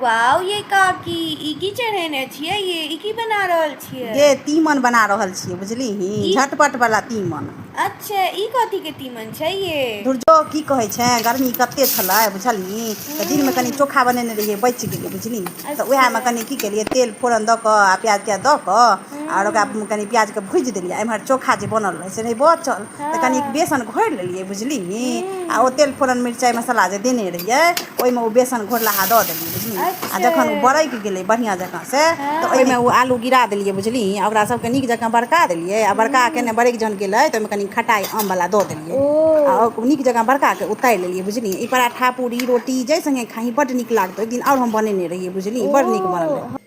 Wow ये काकी ई की चढ़ेने छियै ये ई की बना रहल छियै ये तीमन बना रहल छियै बुझली ही झटपट वाला तीमन अच्छा ई कथी के तीमन छै ये दुर्जो की कहै छै गर्मी कते छलै बुझलही तऽ दिन में कनी चोखा बनेने रहियै बचि गेलै बुझली तऽ अच्छा। उएहमे कनी की केलियै तेल फोरन दऽ कऽ आ प्याज त्याज दऽ कऽ आओर ओकरा हूँ कनि प्याजके भुजि देलियै आ एम्हर चोखा जे बनल रहै से रहै बचल तऽ कनि हँ बेसन घोरि लेलियै बुझलिही आ ओ हूँ तेल फोरन मिरचाइ मसाला जे देने रहियै ओहिमे ओ बेसन घोरलाहा दऽ देलियै बुझलियै आ अच्छे जखन ओ बरकि गेलै बढ़िआँ जँकाँ से तऽ ओहिमे हँ ओ आलू गिरा देलियै बुझलिही आ ओकरा सभके नीक जकाँ बरका देलियै आ बड़का कऽ हूँ ने बरकि जखन गेलै तऽ ओहिमे कनि खटाइ आमवला दऽ देलियै ओ आ ओ नीक जकाँ बड़का कऽ उतारि लेलियै बुझलियै ई पराठा पूड़ी रोटी जाहि संगे खाही बड्ड नीक लागतौ एक दिन आओर हम बनेने रहियै बुझलियै ओ बड़ नीक बनल रहै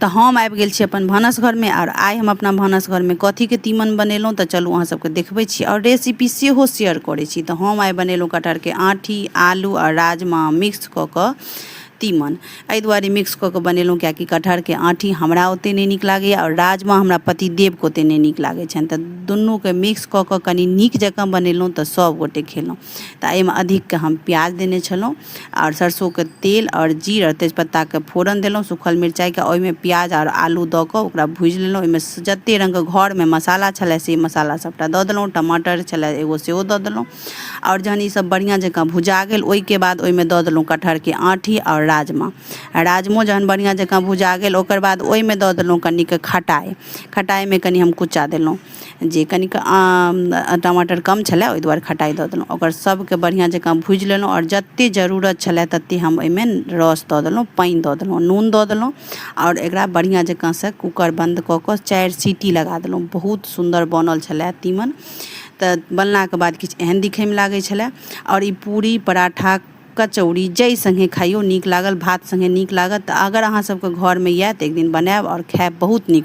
तऽ हम आबि गेल छी अपन भानस घरमे आओर आइ हम अपना भानस घरमे कथीके तीमन बनेलहुँ तऽ चलू अहाँ सबके देखबै छी आओर रेसिपी सेहो शेयर करै छी तऽ हम आइ बनेलहुँ कटहरके आँठी आलू आओर राजमा मिक्स कऽ कऽ तीमन एहि दुआरे मिक्स कऽ कऽ बनेलहुँ कियाकि कटहरके आँठी हमरा ओतेक नहि नीक लागैए आओर राजमा हमरा पतिदेवके ओतेक नहि नीक लागै छनि तऽ दुनूके मिक्स कऽ कऽ कनि नीक जकाँ बनेलहुँ तऽ सभगोटे खेलहुँ तऽ एहिमे अधिकके हम प्याज देने छलहुँ आओर सरसोके तेल आओर जीर आओर तेजपत्ताके फोरन देलहुँ सुखल मिरचाइके ओहिमे प्याज आओर आलू दऽ कऽ ओकरा भुजि लेलहुँ ओहिमे जतेक रङ्गके घरमे मसाला छलै से मसाला सबटा दऽ देलहुँ टमाटर छलै एगो सेहो दऽ देलहुँ आओर जहन ईसब बढ़िआँ जकाँ भुजा गेल ओहिके बाद ओहिमे दऽ देलहुँ कटहरके आँठी आओर राजमा राजमो जहन बढ़िआँ जकाँ भुजा गेल ओकर बाद ओहिमे दऽ देलहुँ कनिके खटाइ खटाइमे कनि हम कुच्चा देलहुँ जे कनिक टमाटर कम छलै ओहि दुआरे खटाइ दऽ देलहुँ ओकर सभके बढ़िआँ जकाँ भुजि लेलहुँ आओर जते जरूरत छलै तते हम ओहिमे रस दऽ देलहुँ पानि दऽ देलहुँ नून दऽ देलहुँ आओर एकरा बढ़िआँ जकाँ सँ कूकर बन्द कऽ कऽ चारि सीटी लगा देलहुँ बहुत सुन्दर बनल छलै तीमन तऽ बनलाके बाद किछु एहन दिखैमे लागै छलै आओर ई पूरी पराठा कचौड़ी जाहि सङ्गे खाइयो नीक लागल भात सङ्गे नीक लागत तऽ अगर अहाँ सभके घरमे यऽ तऽ एक दिन बनायब आओर खायब बहुत नीक